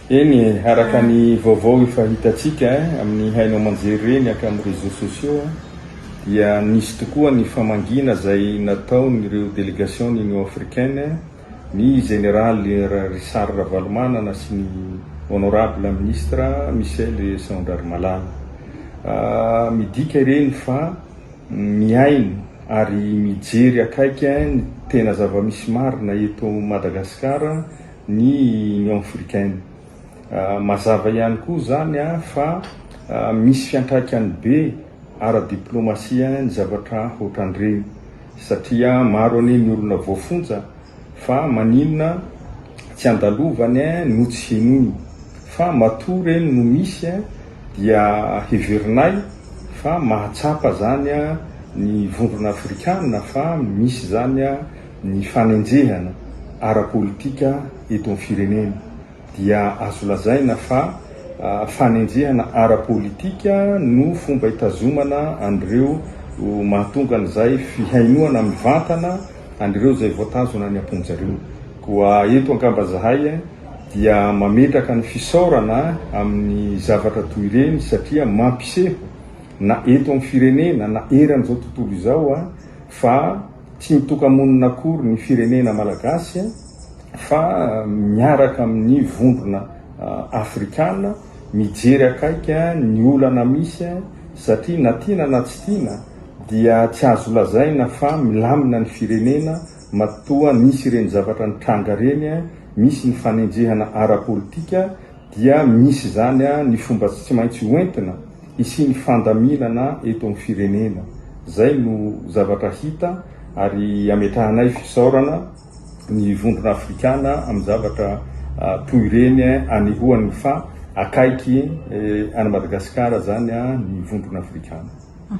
Eny e, araka ny vaovao efa hitantsika amin'ny haino aman-jery ireny avy amin'ny réseaux sociaux dia nisy tokoa ny famangiana izay nataon'ireo delegation'ny Union africaine ny Jeneraly Richard Ravalomanana sy ny Honorable Ministre Michel Saondrarimalala. Midika ireny fa mihaino ary mijery akaiky ny tena zava-misy marina eto Madagasikara ny Union Africaine. Mazava ihany koa izany fa misy fiantraikany be ara-diplaomasia ny zavatra ohatran'ireny satria maro anie ny olona voafonja fa maninona tsy andalovany no tsy henoiny fa matoa ireny no misy dia heverinay fa mahatsapa izany ny vondrona afrikana fa misy izany Ny fanenjehana ara-politika eto amin'ny firenena dia azo lazaina fa fanenjehana ara-politika no fomba hitazomana an'ireo mahatonga an'izay fihainoana mivantana an'ireo izay voatazona any am-pon-dry zareo. Koa eto angamba izahay dia mametraka ny fisaorana amin'ny zavatra toy ireny satria mampiseho na eto amin'ny firenena na eran'izao tontolo izao fa Tsy mitoka-monina akory ny firenena malagasy fa miaraka amin'ny vondrona afrikana mijery akaiky ny olana misy satria na tiana na tsy tiana dia tsy azo lazaina fa milamina ny firenena matoa nisy ireny zavatra nitranga ireny, misy ny fanenjehana ara-politika dia misy izany ny fomba tsy maintsy hoentina. Hisian'ny fandaminana eto amin'ny firenena. Izay no zavatra hita ary ametrahanay fisaorana ny vondrona afrikana amin'ny zavatra toy ireny anehoany fa akaiky an'i Madagasikara izany ny vondrona afrikana.